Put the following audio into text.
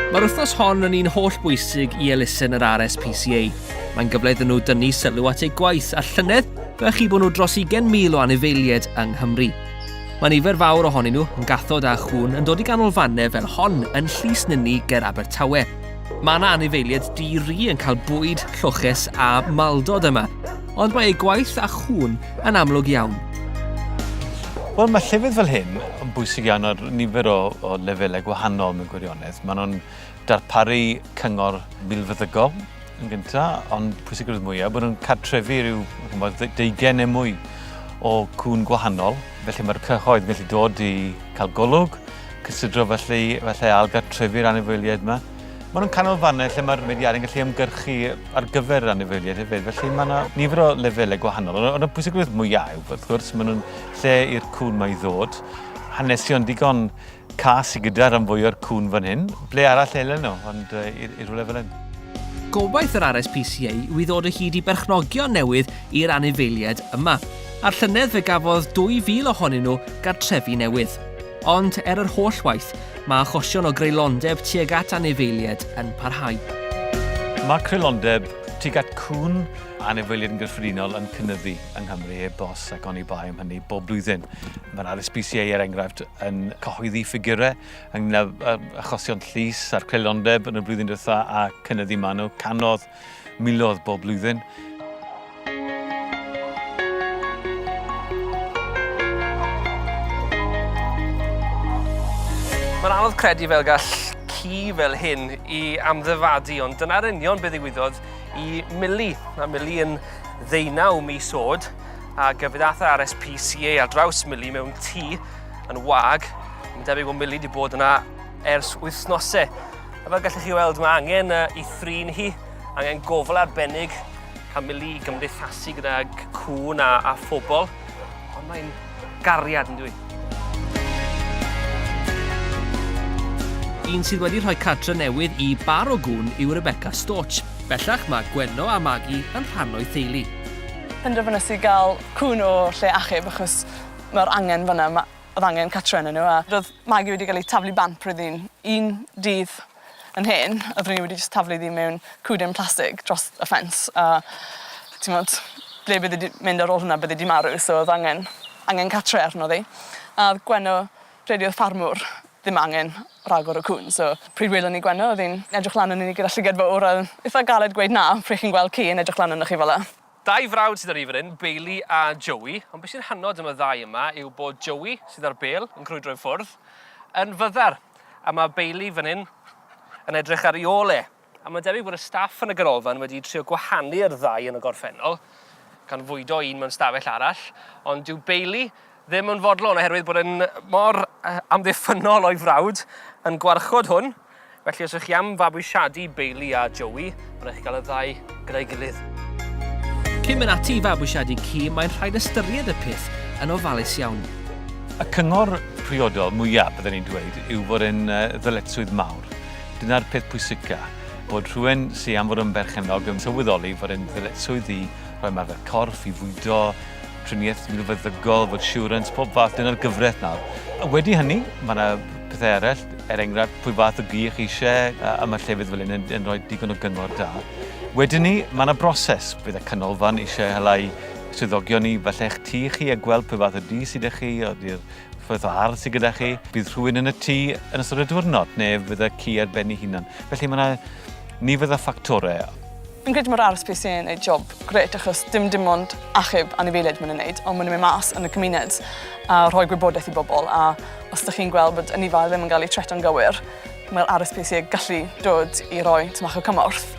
Mae'r wythnos hon yn un holl bwysig i elusen yr RSPCA. Mae'n gyfle iddyn nhw dynnu sylw at eu gwaith a llynedd fe chi bod nhw dros 20,000 o anifeiliaid yng Nghymru. Mae nifer fawr ohonyn nhw yn gathod a chwn yn dod i ganolfannau fel hon yn Llys Nynni ger Abertawe. Mae yna anifeiliaid di-ri yn cael bwyd, lloches a maldod yma. ond mae ei gwaith a chŵn yn amlwg iawn. Wel, mae llefydd fel hyn yn bwysig iawn ar nifer o, o lefelau gwahanol mewn gwirionedd. Maen nhw'n darparu cyngor milfeddygol yn gyntaf, ond pwysigrwydd mwyaf, bod nhw'n cartrefu rhyw deugen neu mwy o cwn gwahanol. Felly mae'r cyhoedd yn gallu dod i cael golwg, cysidro felly, felly ail gartrefu'r anifeiliaid yma. Maen nhw'n canolfannau lle mae'r mudiadau'n gallu ymgyrchu ar gyfer anifeiliaid hefyd, felly mae yna nifer o lefelau gwahanol. Ond y pwysigrwydd mwyaf yw, wrth gwrs, maen nhw'n lle i'r cwn mae i ddod. Hanesion digon cas i gyda rhan fwy o'r cwn fan hyn. Ble arall elen nhw, ond uh, i, i rhywle fel hyn. Gobaith yr RSPCA yw i ddod o hyd i berchnogion newydd i'r anifeiliaid yma. A'r llynedd fe gafodd 2,000 ohonyn nhw gartrefi newydd. Ond er yr holl waith, Mae achosion o greulondeb tuag at anifeiliaid yn parhau. Mae creulondeb tuag at cŵn a anifeiliaid yn gyffredinol yn cynyddu yng Nghymru heb os ac oni bai am hynny bob blwyddyn. Mae'r RSPCA, er enghraifft, yn cyhoeddi ffigurau ynglŷn â achosion llys a'r creulondeb yn y flwyddyn diwethaf a chynyddu manwl canodd Milodd bob blwyddyn. Mae'n anodd credu fel gall ci fel hyn i amddyfadu, ond dyna'r union beth ddigwyddodd i Mili. Mae Mili yn ddeunaw mis oed, a gyfyd ath RSPCA ar draws Mili mewn tŷ yn wag. Mae'n debyg bod Mili wedi bod yna ers wythnosau. A fel gallwch chi weld, mae angen i thrin hi, angen gofal arbennig, cael mili i gymdeithasu gydag cwn a, a phobl, ond mae'n gariad yn dwi. Un sydd wedi rhoi cartre newydd i bar o gwn yw Rebecca Storch. Bellach mae Gwenno a Magi yn rhan o'i theulu. Penderfynes i gael cwn o lle achub achos mae'r angen fan'na. Oedd angen catro arnyn nhw a ro'dd Maggie wedi ga'l 'i taflu bant pryd o'dd 'i'n un dydd yn hen a ro'n i wedi jyst taflu ddi mewn cwden plastig dros y ffens a t'mod ble bydde di mynd ar ôl hwnna bydde di marw so o'dd angen angen catre arno ddi. A o'dd Gwenno rhedi o'dd ffarmwr ddim angen ragor o cŵn so pryd welon ni Gwenno o'dd 'i'n edrych lan arnon ni gyda llygad fowr a itha galed gweud na pry' chi'n gweld ci yn edrych lan arnoch chi fel 'a. Dau frawd sydd 'da ni fan hyn, Bailey a Joey, ond be' sy'n hynod am y ddau yma yw bod Joey, sydd ar bêl yn crwydro i ffwrdd, yn fyddar, a ma' Bailey fan hyn yn edrych ar 'i ôl e. A ma'n debyg bod y staff yn y ganolfan wedi trio gwahanu'r ddau yn y gorffennol, gan fwydo un mewn stafell arall, ond dyw Bailey ddim yn fodlon oherwydd bod e'n mor amddiffynnol o'i frawd yn gwarchod hwn. Felly os ych chi am fabwysiadu Bailey a Joey, mae'n rhaid chi gael y ddau gyda'i gilydd. Cyn mynd ati i fabwysiadu ci, mae'n rhaid ystyried y peth yn ofalus iawn. Y cyngor priodol mwyaf, byddwn i'n dweud, yw fod e'n ddyletswydd mawr. Dyna'r peth pwysica, bod rhywun sydd am fod yn berchennog yn sylweddoli fod e'n ddyletswydd i roi ymarfer corff, i fwydo, triniaeth milfeddygol, fod siwrans, pob fath, dyna'r gyfraith nawr. A wedi hynny, mae yna pethau eraill, er enghraifft, pwy fath o gych eisiau, a mae llefydd fel hyn yn, yn rhoi digon o gyngor da. Wedyn ni, mae yna broses, bydd y canolfan eisiau helai swyddogion i falle eich tŷ chi a gweld pwy fath o dŷ sydd â chi, o'r Fath o ardd sydd gyda chi, bydd rhywun yn y tŷ yn ystod y diwrnod neu fydda ci ar ben ei hunan. Felly mae yna nifer o ffactorau. Fi'n credu mae'r RSPC yn gwneud job grêt achos dim dim ond achub anifeiliaid maen nhw'n gwneud ond maen nhw'n mynd mas yn y cymuned a rhoi gwybodaeth i bobl a os ydych chi'n gweld bod ynifar ddim yn cael ei treto'n gywir mae'r RSPC yn gallu dod i roi tymach o cymorth.